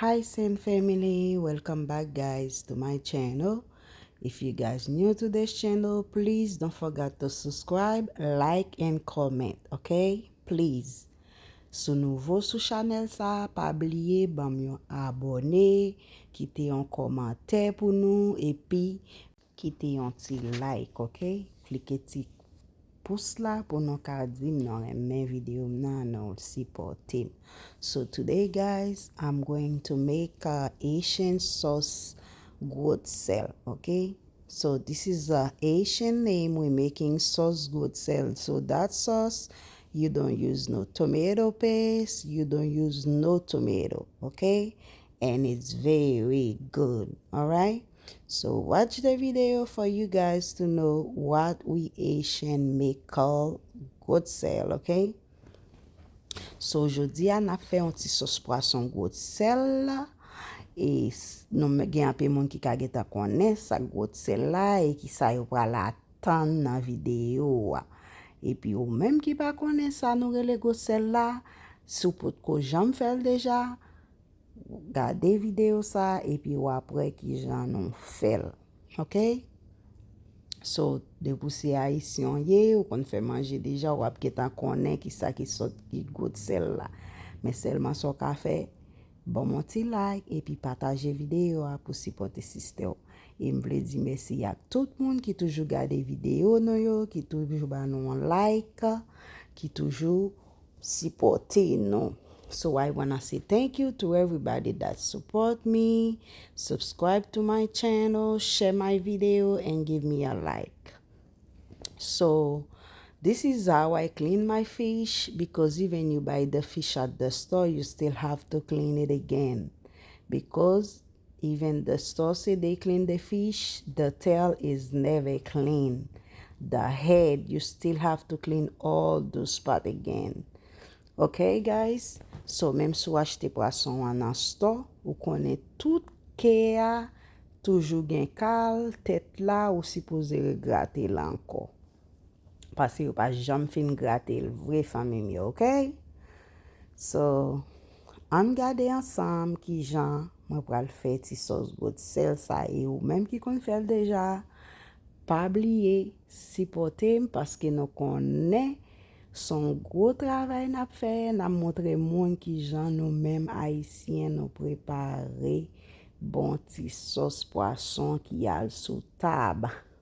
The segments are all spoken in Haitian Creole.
Hi Saint family welcome back guys to my channel if you guys new to this channel please don't forget to subscribe like and comment ok please sou nouvo sou chanel sa pa bliye banm yon abone kite yon komantè pou nou epi Kite yon ti like ok klike ti pous la pou nou ka dim nou renmen video m nan nou sipotem so today guys I'm going to make a Haitian sauce goat sel ok so this is a Haitian name we making sauce goat sel so that sauce you don't use no tomato paste you don't use no tomato ok and it's very good alright So watch the video for you guys to know what we Haitian me call good sel ok So jodi a nap fè yon ti sos pwason good sel la E nou men gen anpe moun ki ka gentan konnen sa good sel la e ki sa yo pral a tann nan video a E pi ou menm ki pa konnen sa nou rele good sel la Si w potko janm fè l deja Gade video sa epi wap wè kijan nou fèl ok so depi ou se ayisyen ou ye ou konn fè manje deja wap gentan konnen kisa ki sòt ki gout sèl la men sèlman sa ou ka fè banm yon ti like epi pataje video a pou sipòte sistè ou e m vle di mèsi ak tout moun ki toujou gade video nou yo ki toujou ba nou yon like ki toujou sipòte nou so I wanna say thank you to everybody that support me subscribe to my channel share my video and give me a like so this is how I clean my fish because even you buy the fish at the store you still have to clean it again because Even the store say they clean the fish, the tail is never clean, the head you still have to clean all those part again ok guys so menm si w achte pwason an nan store ou konnen tout ke a toujou gen kal, tèt la ou sipoze regrate l ankò. paske yo pa janm fin grate l vre fanmim yo ok so ann gade ansanm kijan mwen pral fè ti sòs goat sel sa e ou menm ki konn fèl deja pa bliye sipòtem paske nou konnen son gwo travay nap fè nap montre moun kijan nou menm ayisyen nou prepare bon ti sòs pwason ki al sou tab.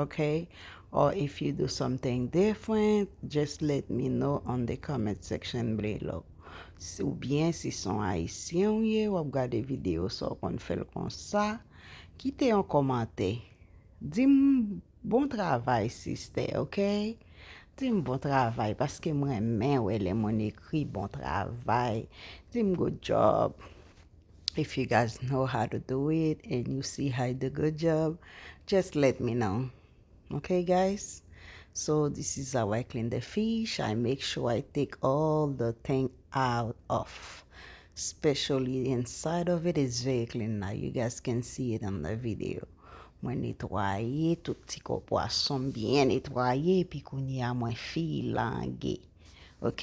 Ok or if you do something different just let me know on the comment section below ou byen si son ayisyen ou ye wap gade video sa ou konn fèl konsa kite yon komante dim bon travay sister ok dim bon travay paske m renmen wè lè moun ekri bon travay dim good job. If you guys know how to do it and you see how I do good job just let me know ok guys so this is how I clean the fish I make sure I take all the thing out of especially inside of it is very clean now you guys can see it on the video mwen netwaye tout ti kò pwason byen netwaye epi kounye a mwen filange ok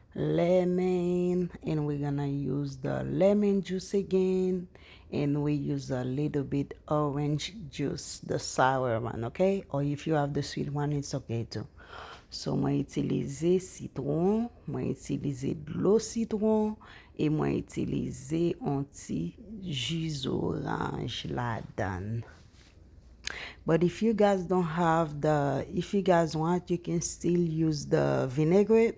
Lemon and we gonna use the lemon juice again and we use a little bit orange juice the sour one ok or if you have the sweet one it's ok too so mwen itilize sitron mwen itilize dlo sitron e mwen itilize on ti ju zoranj ladan but if you guys don't have the if you guys want you can still use the vinaigrette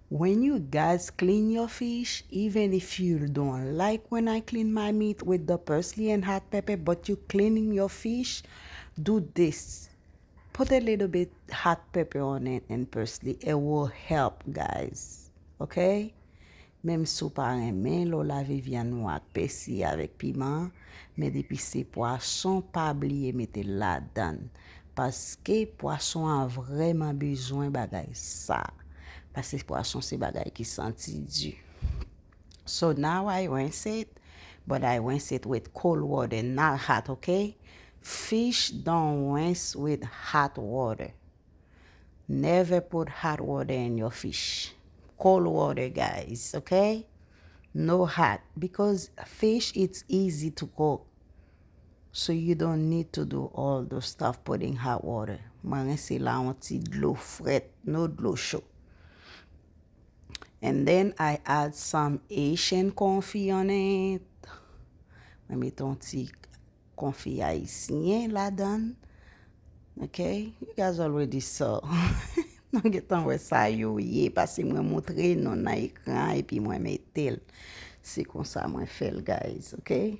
When you guys clean your fish even if you don't like when I clean my meat with the parsley and hot pepper but you cleaning your fish do this put a little bit hot pepper on it and parsley it will help guys ok menm si w pa renmen lè w lave vyann ou ak pèsi avèk piman men depi se pwason pa bliye mete l ladan. Paske pwason an vrèman bezwen bagay sa. Paske pwason se bagay ki santi di. So now I rinse it, but I rinse it with cold water not hot ok. Fish don't rinse with hot water. Never put hot water in your fish. Cold water guys ok. No hot because fish it's easy to cook. So you don't need to do all those stuff putting hot water mwen rense la yon ti dlo frèt no dlo cho and then I add some Haitian konfi on it mwen met yon ti konfi ayisyen ladan ok you guys already saw nou getan wè sa yo ye pase mwen montre nou nan ekran epi mwen metel se konsa mwen fèl guys ok.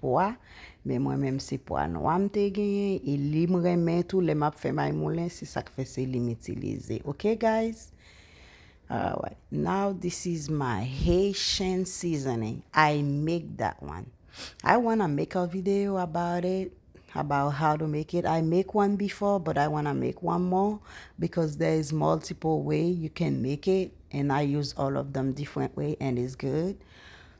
pwa men mwen menm se pwa nwa m te genyen e li m renmen tou lè map fè may moulen se sak fè se li m itilize ok guys alright now this is my Haitian seasoning I make that one I wanna make a video about it about how to make it I make one before but I wanna make one more because there is multiple way you can make it and I use all of them different way and it's good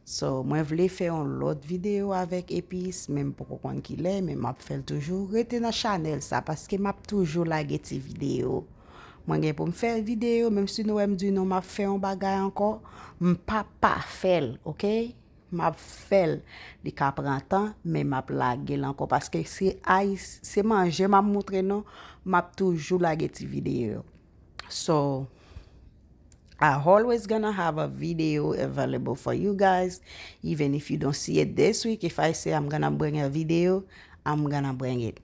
So mwen vle fè yon lòt video avèk epis men m poko konn kilè men map fèl toujou rete nan chanèl sa paske map toujou lage ti video mwen gen poum fè video menm si nou wèm di nou map fè yon bagay ankò m pa pa fèl ok map fèl li ka pran tan men map lagel ankò paske se ay se manje map moutre nou map toujou lage ti video. So I always gonna have a video available for you guys even if you don't see it this week if I say I'm gonna bring a video I'm gonna bring it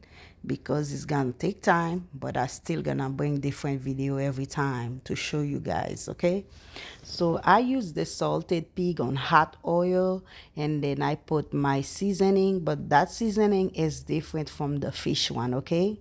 because it's gonna take time but I still gonna bring different video every time to show you guys okay so I use the salted pig on hot oil and then I put my seasoning but that seasoning is different from the fish one okay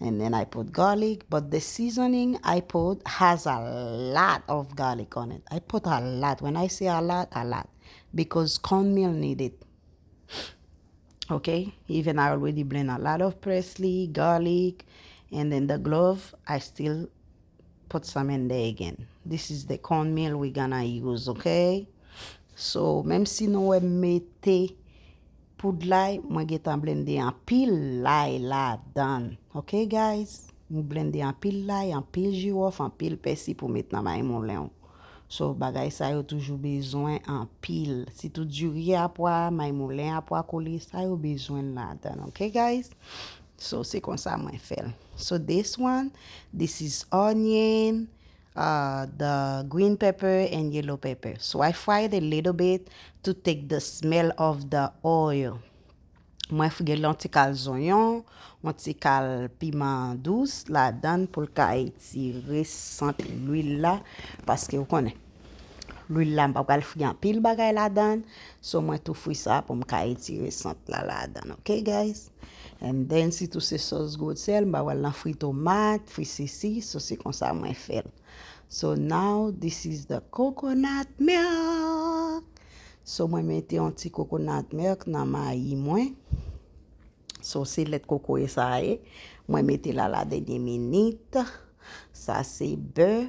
And then I put garlic but the seasoning I put has a lot of garlic on it I put a lot when I say a lot a lot because corn meal need it ok even I already blend a lot of parsley garlic and then the glove I still put some in there again this is the corn meal we gonna use ok so menm si nou wèm mete poud lay mwen gentan blende anpil lay ladan ok guys m blende anpil lay anpil jiwòf anpil pèsi pou met nan maymoulen w so bagay sa yo toujou bezwen anpil sitou diri a pwa maymoulen a pwa kole sa yo bezwen ladan ok guys. So se konsa mwen fèl. So this one this is onion uh the green pepper and yellow pepper so I fry it a little bit to take the smell of the oil mwen gen yon ti kal zonyon yon ti kal piman dous ladann poul ka etire sant lwil la paske ou konnen lwil la mpa pral fri anpil bagay ladann so mwen tou fri sa poum ka etire sant la ladann ok guys. And then si tou se sos goat sel mba wèl nan fri tomat, fri sesi, so se konsa mwen fèl. So now this is the coconut milk. So mwen mete yon ti coconut milk nan mayi mwen. So se lèt kokoye sa ye. Mwen mete la la denye minit. Sa se bè.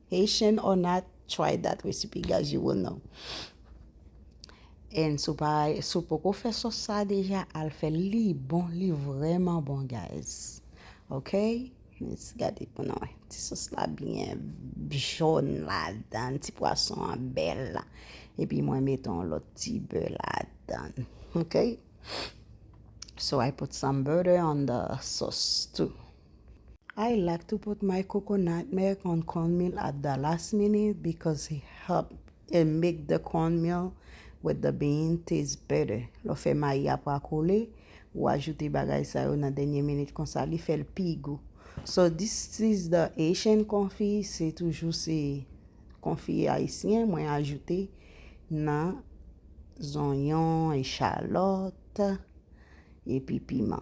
Haitian or not try that recipe guys you will know and si w poko fè sòs sa deja al fè l li bon li vrèman bon guys ok let's gade pou nou wè ti sòs la byen jòn la dan ti pwason an bèl la epi mwen met on lòt ti bè la dan ok so I put some butter on the sauce too I like to put my coconut milk on corn meal at the last minute because it help it make the corn meal with the bean taste better. Lè w fè mayi a pa kole, ou ajoute bagay sa yo nan dènye minit konsa li fè l pi gou. So this is the Haitian konfi, se toujou se konfi ayisyen mwen ajoute nan zonyon, echalòt, epi piman.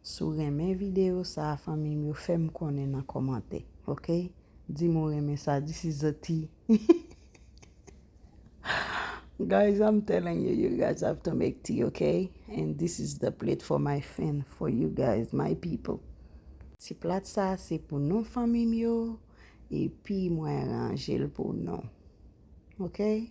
Si w renmen video sa fanmi m yo fè m konnen nan komante ok di m ou renmen sa this is a ti guys I'm telling you you guys have to make tea ok and this is the plate for my fin for you guys my people ti plat sa se pou nou fanmi m yo epi mwen ranje l pou nou ok.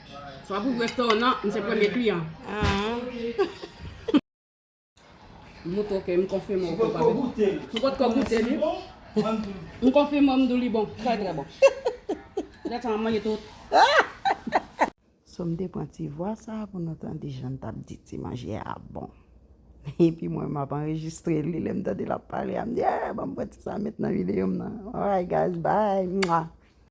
Sa pou resto nan, m se premye kliyan. M ou toke, m konfime ou ke papi. M pot ko goute li. M konfime ou m dou li bon. Trè trè bon. Lè sa m manje tout. So m te pran ti vwa sa pou nou tande jan l tap di ti manje a bon. Epi mwen map anrejistre li lè m tande lap pale a m di eh banm pran ti sa met nan video m nan. Alright guys bye.